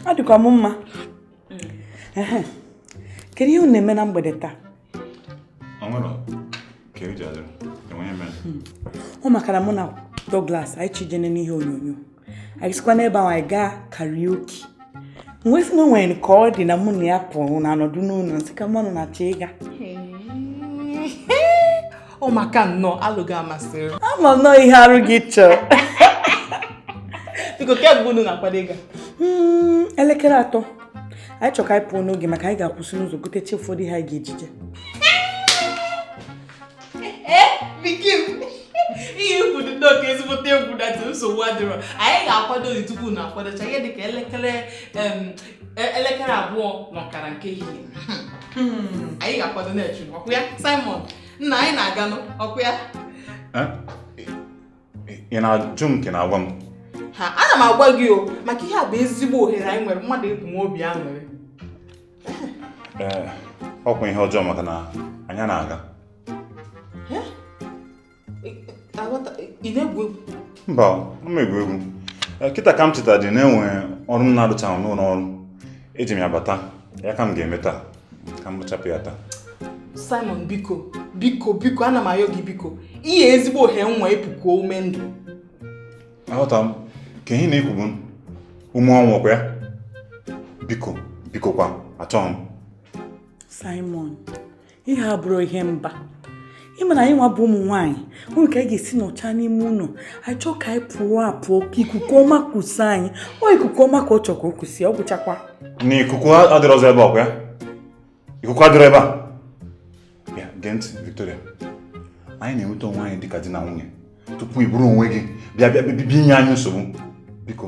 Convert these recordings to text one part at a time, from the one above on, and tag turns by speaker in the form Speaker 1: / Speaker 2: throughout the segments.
Speaker 1: adịkwa m mma kedu ihe unu na-eme na mgbede taa ọ maka na mụ na Douglas anyị chọ ije nene ihe onyonyo anyị sikwa n'ebe ahụ anyị gaa karaoke m wee sị o nwere ka ọ dị na mụ na ya pụrụ unu anọdụ n'ụlọ m sị ka m ma unu na-achọ
Speaker 2: ịga ọ maka nnọọ alo gị a masịrị m ama m nnọọ ihe arụ
Speaker 1: gị chọọ
Speaker 2: biko kee mgbe unu na-akwado ịga hmm, elekere
Speaker 1: atọ anyị chọrọ ka anyị pụọ n'oge maka anyị ga-akwụsị n'ụzọ gotecha ụfọdụ ihe anyị ga-eji
Speaker 2: je ihe i kwu dị nnọọ ka ezigbote egwu na dị nsogbu adịrọ anyị ga-akwado dị tupu unu akwadocha ihe dịka elekere e, elekere abụọ na ọkara nke ehihie hmm. anyị ga-akwado na-eche ọkwa ya Simon nna anyị na-aganụ ọkwa ya
Speaker 3: ị na-ajụ m ka ị na-agwa m ha ana
Speaker 2: m agwa gị o maka ihe a bụ ezigbo ohere anyị nwere mmadụ iji nwee obi aṅụrị ee
Speaker 3: ọkwa ihe ọjọọ maka na anyị anaghị
Speaker 2: aga ị na-egwu egwu mba anaghị m
Speaker 3: egwu egwu Eh, kịta ka m chetadị na e nwe ọrụ m na-arụchaghị n'ụlọ ọrụ eji m ya bata ya ka m ga-eme taa ka m rụchapụ ya taa
Speaker 2: Simon biko biko biko ana m ayọ gị biko ihe a ezigbo ohere anyị nwe ịpụ kuo ume ndụ
Speaker 3: aghọta m ka ihe ị na-eku bụ ume ọnwụ ọkwa ya biko biko kwa achọghị m
Speaker 1: Simon ihe a abụrọ ihe mba ị ma na anyị nwa bụ ụmụ nwaanyị o nwe ka anyị ga-esi nọcha n'ime ụlọ anyị chọọ ka anyị pụọ apụọ ka ikuku ọma kusa anyị ọ ikuku ọma ka ọ chọrọ ka o kusa ya ọ bụchakwa na ikuku
Speaker 3: adịrọzi ebe a ọkwa ya ikuku adịrọ ebe a ya gee ntị Victoria anyị na-enweta onwe anyị dịka di na nwunye tupu i buru onwe gị bịa bịa bịa inye anyị nsogbu biko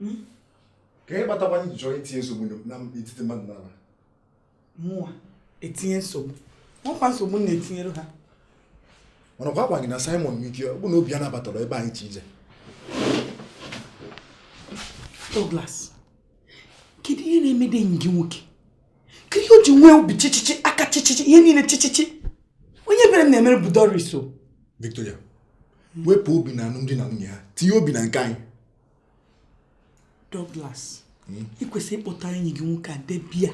Speaker 4: hmm? kee ihe kpatakwanụ ị chọrọ itinye nsogbu na etiti mmadụ naabọ mụwa etinye nsogbu o nwekwa nsogbu m na-etinyere ha mana kwa agwa gị na Simon Wike ọ bụ na obi ya anabatarọ ebe anyị chọ ije
Speaker 1: Douglas kedu ihe na-emedị enyi gị nwoke kedu ihe o ji nwee obi chichichi aka chichichi ihe niile chichichi onye ebere m na-emere bụ Doris o Victoria
Speaker 4: wepụ obi na alụmdi na nwunye ha tinye obi na nke anyị
Speaker 1: Douglas hmm? ị kwesịrị ịkpọta enyi gị nwoke a debe ya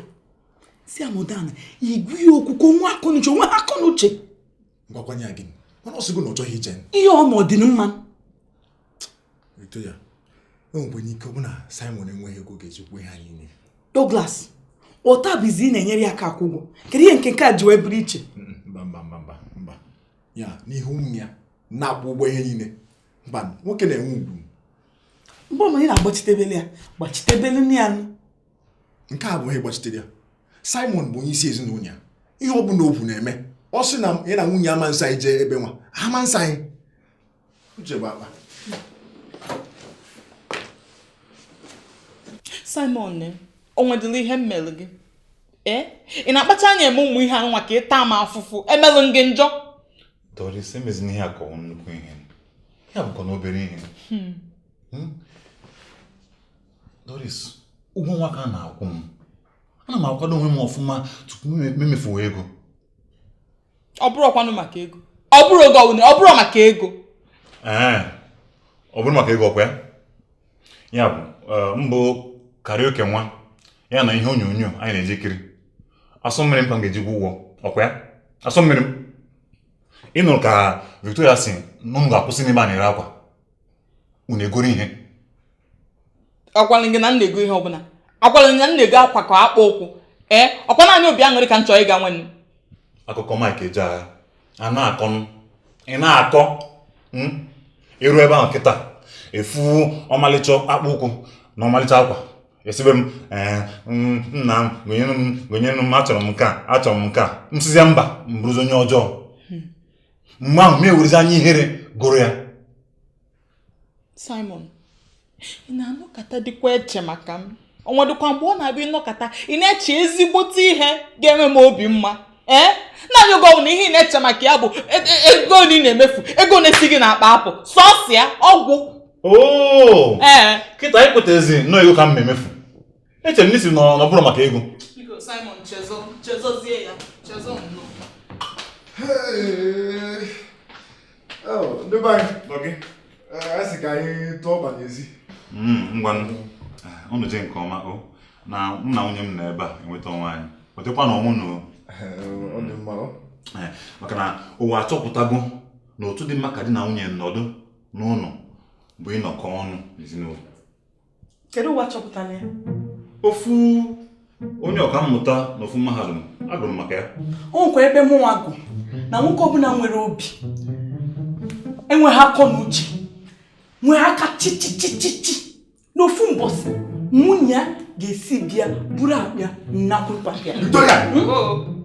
Speaker 1: sị ya nọdụ ana ị gwa ya okwu ka o nwee akọnuche o nwere akọnuche gwakwanye
Speaker 4: gị mana ọ sịgo na ọ chọghị ije ihe ọ ma ọ dị mma Victoria e nwekwanụ ike ọ bụ na Simon enweghị ego ga-ejikwa ihe anyị nye
Speaker 1: Douglas ọ taa bụzi ị na-enyere ya aka akwụ ụgwọ kedu ihe nke nke a ji wee bụrụ iche mba mba mba mba
Speaker 4: ya n'ihu ụmụ ya na-akwụ ụgwọ ihe niile mba nwoke na-enwe ugwu
Speaker 1: mgbe ọbụla ị na-agbachitebele ya gbachitebelenụ ya
Speaker 4: nụ nke a abụghị ịgbachitere ya simon bụ onye isi ezinụlọ ya ihe ọ bụla o kwuru na-eme ọ sị na ya na nwunye ya ama nso anyị jee ebe nwa ha ama nso anyị uche bụ
Speaker 2: akpa simon ne o nwedịla ihe m mere gị ee ị na-akpacha anya eme ụmụ ihe a nụnwa ka ị taa m afụfụ emelụ m gị njọ
Speaker 3: Doris emezina ihe a ka ọ nnukwu ihe ihe a bụkwanụ obere ihe hmm. Hmm? Doris ụgwọ nwa ka a na-akwụ m ana m akwado onwe m ọfụma tupu m emefuo
Speaker 2: ego ọ bụrọkwanụ maka ego ọ bụrọ gịnị ọ bụrọ maka ego ee
Speaker 3: ọ bụrọ maka ego ọkwa ya ya bụ eh, mbụ karaoke nwa ya na ihe onyonyo anyị na-eji ekiri asọ mmiri m ka m ga-eji kwụọ ụgwọ ọkwa ya asọ mmiri m ịnụrụ ka Victoria sị na unu ga-akwụsị n'ebe a na-ere akwa unu egoro
Speaker 2: ihe agwalị gị na m na-ego ihe ọbụla agwalị gị na m na-ego akwa ka akpụ ụkwụ ee ọkwa naanị obi aṅụrị ka m chọrọ ịga nwanne akụkọ Mike
Speaker 3: Ejeagha a na-akọnụ ị na-akọ i ruo ebe ahụ kịta ị fụ ọmalịcha akpụ ụkwụ na ọmalịcha akwa ị sịbe m ee m- nna m gonyere m gonyere m achọrọ m nke a achọrọ m nke a m sịzie mba m bụrụzi onye ọjọọ mgbe ahụ m ewerezi anya ihere goro ya
Speaker 2: Simon ị na-anọkatadịkwa eche maka m o nwedịkwa mgbe ọ na-abịa ị nọkata ị na-eche ezigbote ihe ga-eme m obi mma ee eh? naanị oge ọbụla ihe ị na-eche maka ya bụ e, e, ego ole ị na-emefu ego na-esi gị n'akpa apụ sọọsọ ya ọ gwụ oh! ee eh.
Speaker 3: kịta i kwetazi na ọ ego ka m na-emefu Echere m na ị sị na ọ bụrọ maka ego. Biko
Speaker 2: Simon chezọ chezọzie ya chezọ nnọọ.
Speaker 4: Ndị be anyị nọ gị. A sị ka anyị tụọ ọba n'ezi. Ngwa
Speaker 3: unu jee nke ọma o na mụ na nwunye m nọ ebe a enweta onwe anyị. Nwetakwanụ onwe unu o. Ọ
Speaker 4: dị mma o. Maka na
Speaker 3: ụwa achọpụtago na otu dị mma ka di na nwunye nọdụ n'ụlọ bụ ịnọkọ ọnụ n'ezinụlọ.
Speaker 1: kedu ụwa chọpụtara ya
Speaker 3: ofu onye ọkammụta na ofu mahadum agụrụ m maka ya o nwekwa ebe mụnwa
Speaker 1: gụ na nwoke ọbụla nwere obi enweghị akọ na uche nwee aka chichichichichi n'ofu mbọsị nwunye ya ga-esi bịa buru akpa ya nakwu papa ya Victoria! Hmm?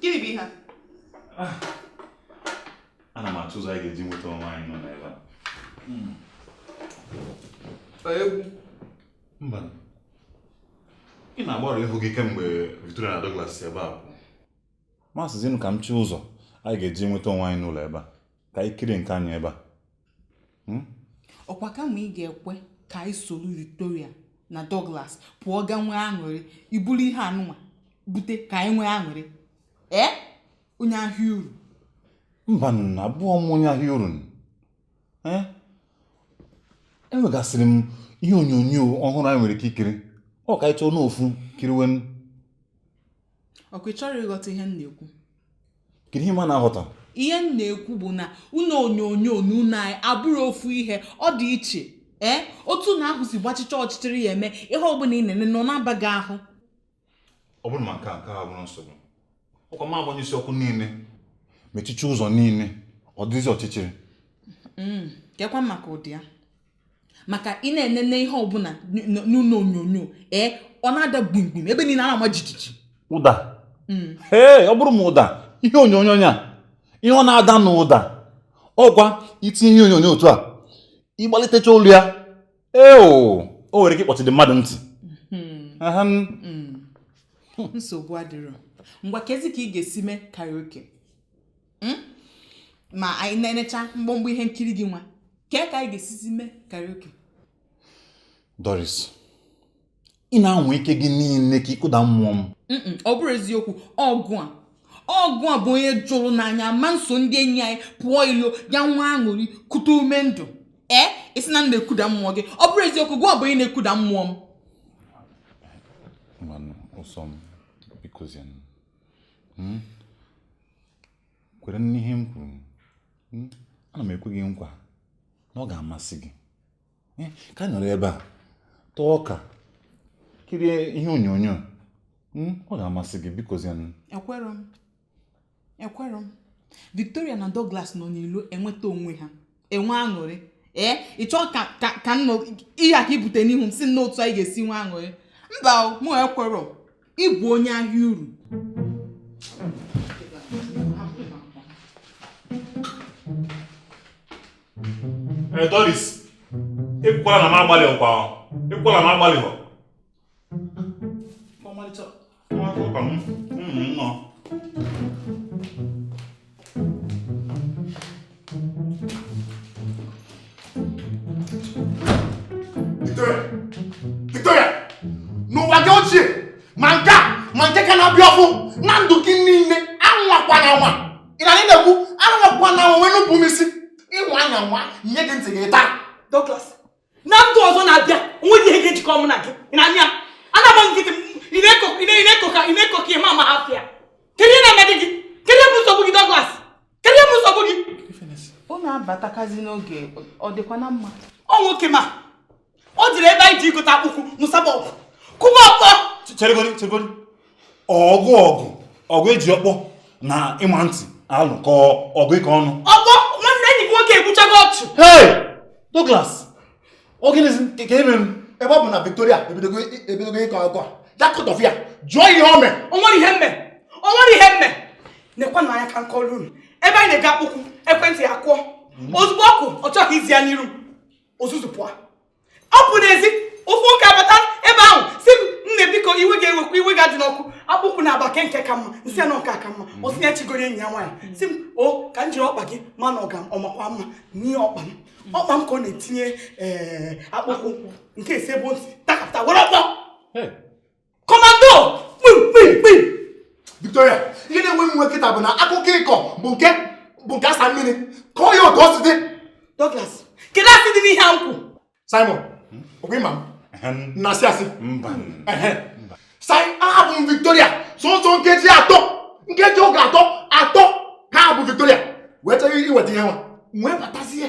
Speaker 2: Gịnị bụ ihe a? Ah,
Speaker 3: ana m achọ ụzọ anyị ga-eji nweta onwe anyị n'ụlọ ebe a. Hmm.
Speaker 2: Egwu.
Speaker 3: Mba. Ị na-agbarụ ihu gị kemgbe Victoria na Douglas si ebe a pụọ. M asịzinụ ka m chọọ ụzọ anyị ga-eji nweta onwe anyị n'ụlọ ebe a. ka anyị kirie nke anyị ebe a Hmm?
Speaker 2: ọkwa kama ị ga-ekwe ka anyị soro victoria na douglas pụọ ga nwee aṅụrị i buru ihe anụnwa bute ka anyị nwee aṅụrị ee onye ahịa uru
Speaker 3: mbanụ abụrọ m onye ahịa uru Eh? enwegasịrị m ihe onyonyo ọhụrụ anyị nwere ike ikiri ọ ka anyị chọọnụ ofu kiriwe
Speaker 2: ọkwa ị chọrọ ịghọta ihe m na-ekwu kedu
Speaker 3: ihe m na-aghọta ihe m
Speaker 2: na-ekwu bụ na ụlọ onyonyo na ụlọ anyị abụrọ ofu ihe ọ dị iche ee otu ụlọ ahụ si gbachicha ọchịchịrị ya eme ihe ọbụla ị na-enene ọ na-aba gị
Speaker 3: ahụ ọ bụrụ ma nke a nke a abụrọ nsogbu ọkwa ma a gbanyụsịa ọkụ niile mechicha ụzọ niile ọ dịzi ọchịchịrị
Speaker 2: kekwa maka ụda ya maka ị na-enene ihe ọbụla n'ụlọ onyonyo ee ọ na-ada gbimgbim ebe niile a na-ama jijiji ụda
Speaker 3: hmm. ee ọ bụrụ ma ụda ihe onyonyo ya ihe ọ na-ada n'ụda ọkwa i tinye ihe onyonyo otu a ị gbalitecha olu ya ee o nwere ike ịkpọchidi mmadụ ntị hmm.
Speaker 2: Hmm. nsogbu adịrọ ngwa kezi ka ị ga-esi mee karaoke hmm? ma anyị nenecha mgbọmgbọ ihe nkiri gị nwa kee ka anyị ga-esizi mee karaoke
Speaker 3: Doris ị na-anwa ike gị niile ka ị kụda mmụọ m ọ bụrọ eziokwu
Speaker 2: ọ gụwa ọ gụwa bụ onye jụrụ na anyị ama nso ndị enyi anyị pụọ ilo ga nwee aṅụrị kute ume ndụ ee ị sị na m na-ekuda mmụọ gị ọ bụrọ eziokwu gụwa bụ onye na-ekuda mmụọ m
Speaker 3: hmm? kwere n'ihe m kwuru hmm? ana m ekwe gị nkwa na ọ ga-amasị gị hmm? ka anyị nọrọ ebe a taa ọka kirie ihe onyonyo hmm? ọ ga-amasị gị bikozianụ ekwerọ
Speaker 2: m ekwerọ m Victoria na Douglas nọ n'ilo enweta onwe ha enwe aṅụrị ee ị chọọ ka ka ka nọ ihe a ka ibute n'ihu m sị na otu anyị ga-esi nwe aṅụrị mba o, mụ ekwerọ ị bụ onye ahịa uru Ee,
Speaker 3: Doris, ịkwala na m agbalị ọkwa ịkwala na m agbalị hụ ọmalịcha nwata ụka m ụmụ
Speaker 4: nnọọ Victoria n'ụwa gị ochie ma nke a ma nke ka na-abịa ọfụụ na ndụ gị niile anwakwana anwa ị na na-ekwu anwakwana anwa wee nupụ m isi ị nwaa ya anwa nye gị ntị gị taa Douglas
Speaker 1: na ndụ ọzọ na-abịa onweghị ihe ga-ejikọ mụ na gị na ahịa a na-agba nkịtị ị na-eko ka ị ma ama afịa kedu ihe na-eme gị kedu ihe bụ nsogbu gị Douglas kedu ihe bụ nsogbu gị ọ
Speaker 2: na-abatakazi n'oge
Speaker 1: ọ dịkwa na
Speaker 2: mma ọ nwoke m a o
Speaker 1: jiri ebe anyị je igote akpụkwụ nụsaba ọgụ kụba ọkpọ cheregodi cheregodi
Speaker 3: ọgụ ọgụ ọgụ eji ọkpọ na ịma ntị alụ ka ọgụ ịkọ ọnụ ọkpọ nwanne enyi
Speaker 1: gị nwoke egbuchago ọchụ hey
Speaker 3: Douglas ọ gịnịzi ka eme m ebe ọ bụ na Victoria
Speaker 4: ebidogo ịkọ akụkọ a ya kọtọfụ ya jụọ ihe o mee o nwere ihe m
Speaker 1: me o nwere ihe m me nekwanụ anya ka m kọọrọ unu ebe anyị na-ego akpụkwụ ekwentị ya kụọ ozugbo ọ kụ ọ chọghị ịza ya n'iru o zuzupụọ ọ pụ n'ezi ofu nwoke abata ebe ahụ sị m nne biko iwe gị ewekwa iwe gị adịna ọkụ akpụkwụ naabọ a kee nke ka mma m sị ya na ọ nke a ka mma mm. ọ sị ya chọ igoro enyi ya nwaanyị mm. sị m ọ ka m jiri ọkpa gị ma na ọ ga-amakwa mma m nye ya ọkpa m mm. ọkpa m ka ọ na-etinye eh, akpụkwụ nke a esi ebe o si takapụta were ọkpọ kọmando kpimkpimkpi
Speaker 4: victoria ihe na-ewe m iwe kịta bụ na akụkọ ị kọ bụ nke bụ nke a sa mmiri kọọ ya otu o si dị douglas
Speaker 1: kedu asị dị n'ihe m kwu simon
Speaker 4: ọkwa ị ma m na asị asị
Speaker 3: mba simon
Speaker 4: ahapụ m victoria sọsọ nkeji atọ nkeji oge atọ atọ ka m hapụ victoria wee chọrọ iweta ihe nwa wee batazie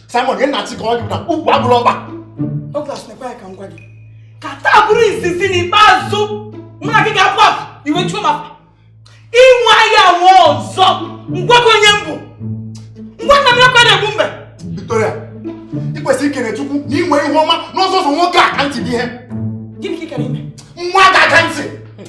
Speaker 3: Simon ihe na-achị ka
Speaker 4: ọ gị na ukwu abụrụ ọba Douglas nekwa
Speaker 1: anya ka m gwa gị ka taa bụrụ izizi na ikpeazụ mụ na gị ga-apụ apụ i wee chuo m ị nwaa ya anwa ọzọ m gwa gị onye m bụ ngwa nna m ya kwa na-egbu mbe
Speaker 4: Victoria ị kwesịrị ikele Chukwu na i nwe ihu ọma n'ọzọ ụzọ nwoke aka ntị dị ike gịnị ka ị gara
Speaker 1: ime nwoke aka ntị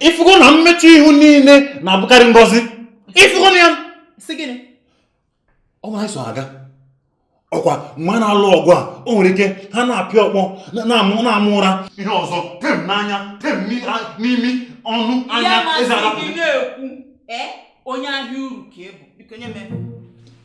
Speaker 3: ifugo na mmechu ihu niile na-abụkarị ngọzi ifugo na ya ọ nwere so aga ọ kwa mgbe a na-alụ ọgụ a o nwere ike ha na-apịa ọkpọ na-ama ụra ihe ọzọ tie m n'anya tie m n'imi ọnụ anya eze adapụ
Speaker 2: onye ahịa uru ka ị bụ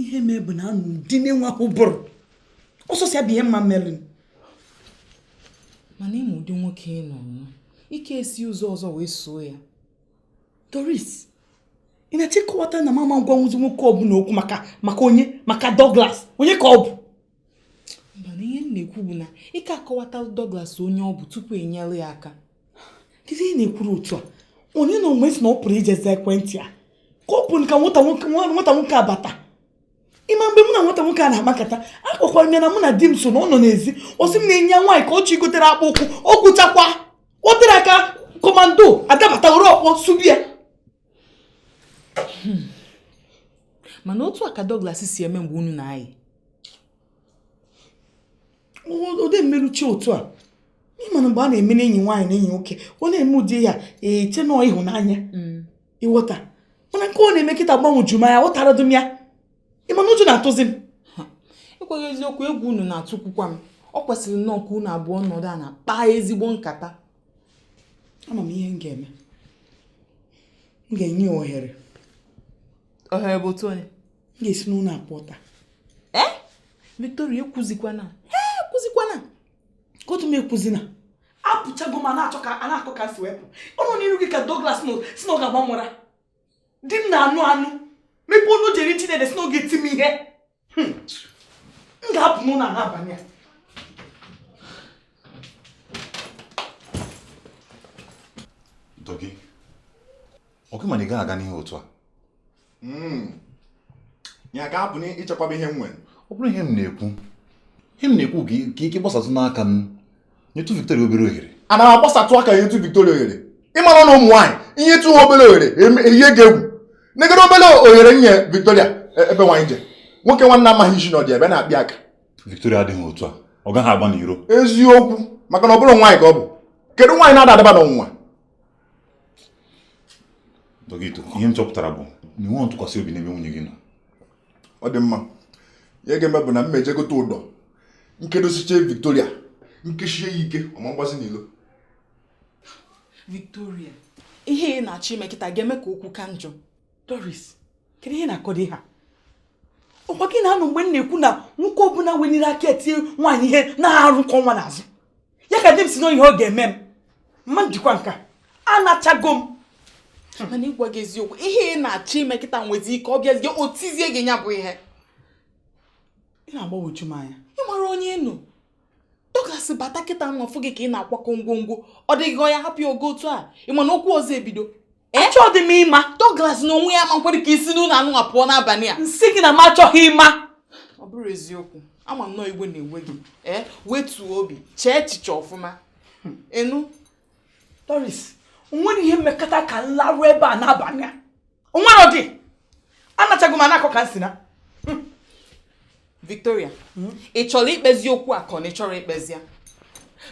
Speaker 1: ihe mee bụ na anụ ụdị na-enwe ahụ bụrụ ọsọsọ ya bụ ihe m ma
Speaker 2: melụ mana ị ma ụdị nwoke i nwe ike esi ụzọ ọzọ wee soo ya
Speaker 1: Doris ị na-achọ ịkọwata na mama ngwa nwụzi nwoke ọbụla okwu maka maka onye maka Douglas onye ka ọ bụ
Speaker 2: mana ihe m na-ekwu bụ na ị ka akọwata Douglas onye ọ bụ tupu i nyere ya aka kedu ihe
Speaker 1: na-ekwuru otu a onye na onwe si na ọ pụrụ ije za ekwentị ya ka ọ pụrụ ka nwata nwoke a bata ị ma mgbe mụ na nwata nwoke a na-akpa nkata akọkwara m ya na mụ na di m so na ọ nọ n'ezi ọ sị m na enyi ya nwaanyị ka ọ chọ igotere akpụ ụkwụ ọ gwụchakwa o teghị aka Commando adabata were ọkpọ sụbe ya
Speaker 2: hmm. mana otu a ka Douglas si eme mgbe unu
Speaker 1: na-ayị ode mmeruchi otu a ị ma na mgbe a na-eme n'enyi nwaanyị na enyi nwoke ọ na-eme ụdị ya e chee na ọ ịhụnanya hmm. ị ghọta mana nke ọ na-eme kịta gbagwoju m anya aghọtarọdụ m ya ị ma na ụjọ na-atụzi m i
Speaker 2: kwughị eziokwu egwu unu na-atụkwukwa m ọ kwesịrị nnọọ ka unu abụọ nọdụ ana kpaa ezigbo nkata
Speaker 1: ama m ihe m ga-eme m ga-enye ya
Speaker 2: ohere ohere bụ otu onye m ga-esi n'ụlọ a
Speaker 1: pụọ taa ee eh? Victoria
Speaker 2: ekwuzikwana ee ekwuzikwana
Speaker 1: ka otu m ekwuzina apụchago m a na-akọ ka e si wee pụọ ọ nọ n'iru gị ka Douglas sị na ọ ga-ama m ụra di m na-anụ anụ mepee ọnụ o ji eri ji na ede sị na ọ ga-eti m ihe Hmm. M ga-apụ n'ụlọ a
Speaker 3: n'abalị a. Dougie, ọ gị ma na ị gaghị aga n'ihu otu a?
Speaker 4: Hmm. Ya ga-abụ n'ichekwaba ihe m nwere. Ọ bụrọ ihe m na-ekwu,
Speaker 3: ihe m na-ekwu ka ike gbasatụ n'aka m. nyetụ Victoria obere ohere ana m agbasatụ
Speaker 4: aka enyetụ Victoria ohere ị mara na ụmụ nwaanyị i nyetụ ha obere ohere e yie gị egwu negodu obere ohere nye Victoria e, ebe nwaanyị je nwoke nwanne amaghị isi na ọdụ ebe na-akpị aka Victoria adịghị otu
Speaker 3: a ọ gaghị agba n'iro eziokwu
Speaker 4: maka na ọ bụrọ nwaanyị ka ọ bụ kedu nwaanyị na-ada adaba
Speaker 3: n'ọnwụnwa Dogito ihe m chọpụtara bụ na i nweghị ntụkwasị obi n'ebe nwunye gị nọ ọ dị
Speaker 4: mma ihe m ga-eme bụ na m ma-eje gote ụdọ m kedosiche Victoria m kesie ya ike ọ ma mgbazi
Speaker 2: n'ilo Victoria ihe ị na-achọ ime kịta ga-eme ka okwu ka njọ Doris
Speaker 1: kedu ihe ị na-akọ dị ihe a ọkwa gị na-anụ mgbe m na-ekwu na nwoke ọbụla weniri aka tie nwaanyị ihe na arụ nke ọnwa n'azụ ya ka di m sị na ọ ihe ọ ga-eme m m ma ndikwa nka anachago m mana ịgwa
Speaker 2: gị eziokwu ihe ị na-achọ ime kịta nwezi ike ọ bịazie o tizie gị ya bụ ihe
Speaker 1: ị na-agbagwoju m anya ị mara onye ị
Speaker 2: nụ Douglas bata kịta nwa fụ gị ka ị na-akwakọ ngwongwo ọ dịghị ya hapụ ya ogo otu a ị ma na okwu ọzọ ebido achọ dị m
Speaker 1: ịma Douglas na onwe ya ma
Speaker 2: nkwere ka i si n'ụlọ anụ pụọ n'abalị a m sị gị na m
Speaker 1: achọghị ịma ọ
Speaker 2: bụrụ eziokwu ama m na ọ iwe na-ewe gị ee wetuo obi chee echiche ọfụma ị
Speaker 1: nụ Doris o nwere ihe mekata ka m larụ ebe a n'abalị a nwere ọdị anachago m anakọ ka m sị na
Speaker 2: hmm. Victoria hmm? ị chọrọ ikpezi okwu a ka ọ na ị chọrọ ikpezi ya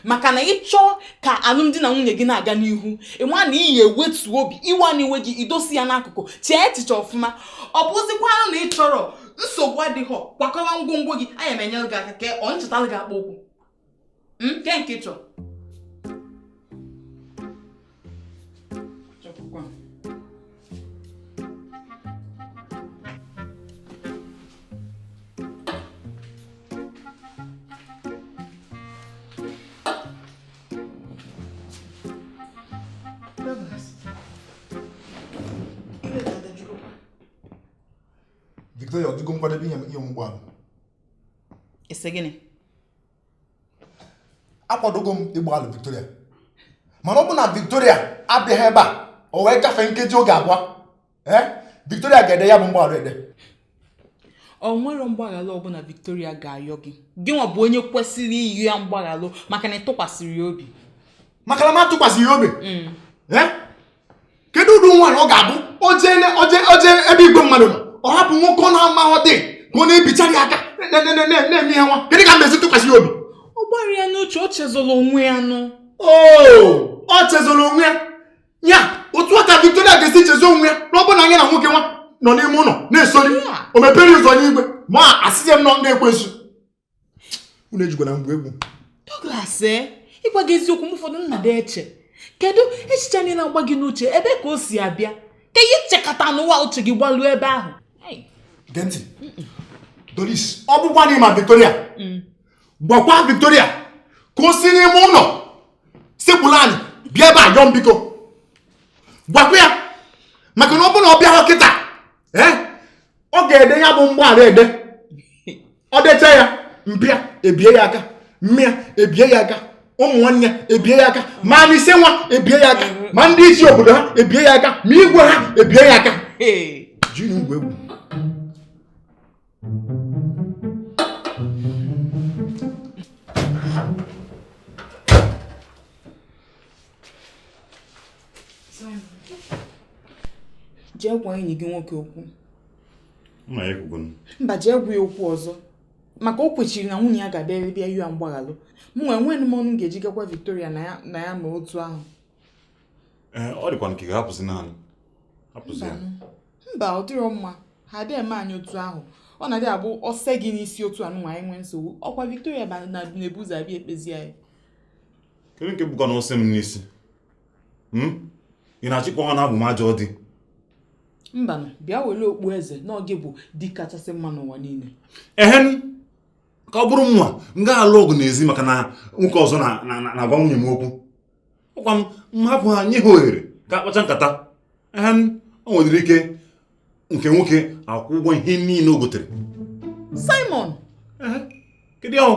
Speaker 2: maka na ị chọọ ka alụmdi na nwunye gị na-aga n'ihu ị ma na ị ya-ewetu obi iwe na-ewe gị i dosie ya n'akụkụ chee echiche ọfụma ọ bụzikwanụ na ị chọrọ nsogbu adịghị kwakọwa ngwongwo gị aya m enyere gị aka ka ọ m chọtalụ gị akpa ukwu nke nke chọ
Speaker 4: chọpụkwa Victoria, ọ dịgo nkwadebe ịyọ m mgbaghalụ
Speaker 2: ị sị
Speaker 4: gịnị akwadogo m ịgbaghalụ Victoria mana ọ bụ na Victoria abịaghị ebe a o wee gafee nkeji oge abụọ ee Victoria ga-ede ya bụ mgbaghara
Speaker 2: ede o nwerọ mgbaghara ọbụla Victoria ga-ayọ gị gị nwa bụ onye kwesịrị ịyọ ya mgbaghara maka na ị tụkwasịrọ ya obi maka na m
Speaker 4: atụkwasịghị ya obi mm. ee kedu ụdị nwaanyị ọ ga-abụ o je ebe igwe mmadụ nọ ọ hapụ nwoke ọ na-amaghọ dị ka ọ na-ebichara ya aka na-eme ihe nwa kedu ka m na-esi tụkwasị ya obi ọ gbara ya n'uche
Speaker 2: o chezọrọ onwe ya nụ
Speaker 4: oo ọ chezọrọ onwe ya ya otu a ka Victoria ga-esi chezo onwe ya na ọ bụ na ya na nwoke nwa nọ n'ime ụlọ na-esori o mepere ụzọ n'igwe ma asịzie m na ọ ekwensu unu ejikwana m gwuo egwu Douglas
Speaker 2: ee eh? ịgwa gị eziokwu mgbe ụfọdụ m na-adị eche kedu echiche ndị na-agba gị n'uche ebe ka o si abịa ka ị ya-echekata n'ụwa uche gị gbaluo ebe ahụ gee
Speaker 4: ntị Doris ọ bụkwa na ị ma Victoria mm. gwakwa Victoria ka o si n'ime ụlọ sekpụrụ anị bịa ebe a yọọ m biko gwakwa ya maka na ọ bụrụ na ọ bịara kịta ọ ga-ede ya bụ mgbaghara ede ọ decha ya mpa ya ebie ya aka mma ya ebie ya aka ụmụ nwanne ya ebie ya aka ma n'ise nwa ebie ya aka ma ndị isi obodo ha ebie ya aka ma igwe ha ebie ya aka gị na-egwu egwu
Speaker 2: jee gwa enyi gị nwoke okwu
Speaker 3: mba jee gwa ya
Speaker 2: okwu ọzọ maka o kwechiri na nwunye ya ga-abịa bịa yọọ mgbaghalụ mụ nwa enweghị m ọnụ m ga-eji gwakwa Victoria na ya ma otu ahụ
Speaker 3: eh, ọ dịkwa nke ga-ahapụzi naanị hapụzi ya mba
Speaker 2: ọ dịrọ mma ha adịghị eme anyị otu ahụ ọ na-adị abụ ọse gị n'isi otu a nwa anyị nwee nsogbu ọkwa Victoria ba- na- na-ebu ụzọ abịa ekpezi anyị kedu
Speaker 3: nke bụkwa na ọsị m n'isi Hmm? ị na-achọ ikwu na abụ m ajọ
Speaker 2: di mbanụ bịa were okpu eze na ọ gị bụ di kachasị mma n'ụwa niile ehen
Speaker 3: ka ọ bụrụ nwa m ga-alụ ọgụ n'ezi maka na nwoke ọzọ na- na- na- na-agwa nwunye m okwu ọkwa m m hapụ ha nye ha ohere ka ha kpachaa nkata ehe m o nwedịrị ike nke nwoke akwụọ ụgwọ ihe niile o gotere Simon
Speaker 2: Ehe,
Speaker 3: kedu ahụ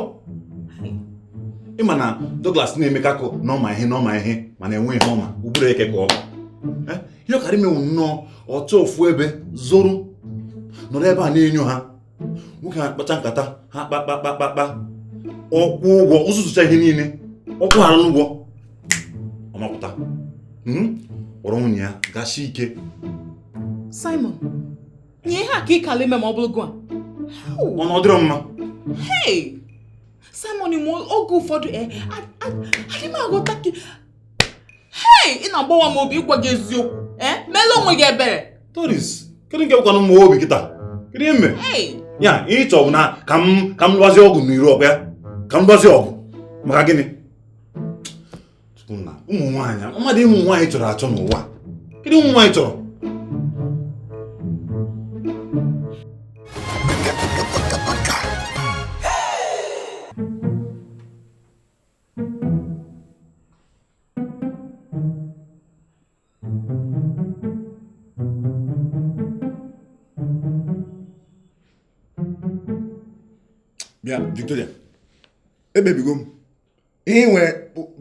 Speaker 3: ị ma na Douglas na-emeka akọ na ọ ma ihe na ọ ma ihe mana enweghị ihe ọ ma ụbụrụ eke ka o bu Eh, ihe ọ kaara ime wụ nnọọ ọ chọọ ofu ebe zoro nọrọ ebe a na-enyo ha nwoke ha kpacha nkata ha kpakpakpakpakpa ọ kwụọ ụgwọ ọ zụzụcha ihe niile ọ kwụ hara n'ụgwọ ọ mapụta hmm? kpọrọ nwunye ya gashi ike
Speaker 2: Simon nya ihe a ka ị kaala ime ma ọ bụrụ gị wa ọ na
Speaker 3: ọ dịrọ mma Hey!
Speaker 2: Simon, oge ụfọdụ eh, adị m aghọta gị hei ị na-agbawa m obi ịgwa gị eziokwu ee eh? meelụ onwe gị ebere Doris
Speaker 3: kedu nke bụkwanụ m obi kịta kedu ihe m mere ya ihe ị chọ bụ na ka m ka m lụbazie ọgụ n'iru ọgụ ya ka m lụbazie ọgụ maka gịnị ụmụ nwaanyị ma di ụmụ nwaanyị chọrọ achọ n'ụwa kedu ụmụ nwaanyị chọrọ
Speaker 4: bịa Victoria ekpebigo m ihe ị nwere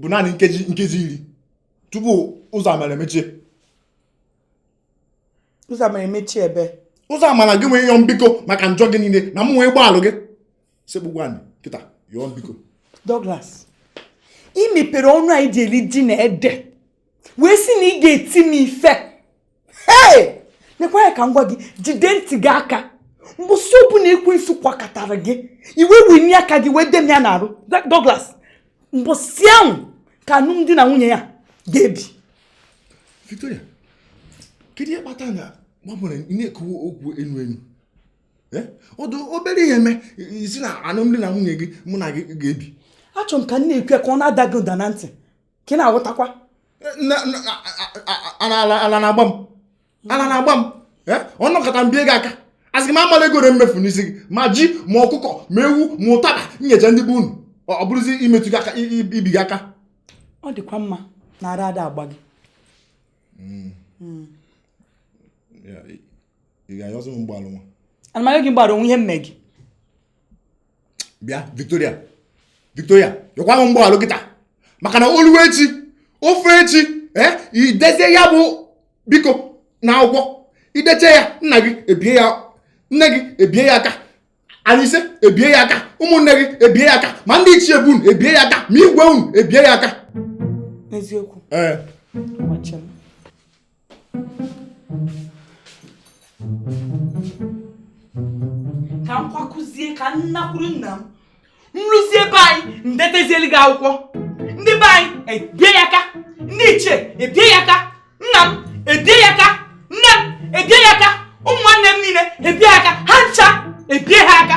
Speaker 4: bụ naanị nkeji iri tupu ụzọ amara
Speaker 1: emechie ụzọ amara emechie ebe ụzọ amara gị nwee
Speaker 4: ịyọ m biko maka njọ gị niile na m wee gbaghalụ gị sekpukwa anị kịta yọọ m biko
Speaker 1: Douglas ị mepere ọnụ anyị ji eri ji na ede wee sị na ị ga-eti m ife hei nekwa ya ka m gwa gị jide ntị gị aka mbọsị ọbụna ekwensu kwakatara gị i wee wenie aka gị wee de m ya n'arụ Douglas mbọsị ahụ ka alụmdi na nwunye a ga-ebi
Speaker 4: Victoria kedu ihe kpata na gbabụrụ na-ekwu okwu enu enu ọ dị obere ihe mee ị sị na alụmdi na nwunye gị mụ na gị ga-ebi achọrọ m ka m
Speaker 1: na-ekwu ya ka ọ na-ada gị ụda na ntị ka ị na-aghọtakwa
Speaker 4: ala na-agba m ala na-agba m ọ nọkata m bie gị aka a sị gị m amala ego ole m mefu n'isi gị ma ji ma ọkụkọ ma ewu ma ụtaba nyecha ndị be unu ọ bụrụzi imetụ gị aka ibi gị aka ọ dịkwa mma
Speaker 1: na ara ada agba gị hmm. Hmm.
Speaker 4: ị ga-ayọzi m mgbaghalụ nwa ana m ayọ gị
Speaker 1: mgbaghalụ o nwe ihe m me
Speaker 4: gị bịa Victoria Victoria yọkwa m mgbaghalụ kịta maka na o lue echi o fee echi ee eh, i dezie ya bụ biko n'akwụkwọ i dechaa ya nna gị ebie ya nne gị ebie ya aka anyị ise ebie ya aka ụmụnne gị ebie ya aka ma ndị ichie be unu ebie ya aka ma igwe unu ebie ya aka eziokwu
Speaker 1: ee eh. ka m kwakọzie ka m nakwuru nna m m ruzie be anyị m detezielu gị akwụkwọ ndị be anyị ebie ya aka ndị ichie ebie ya aka nna m ebie ya aka nne m ebie ya aka ụmụ nwanne m niile ebie ya aka ha ncha ebie ha aka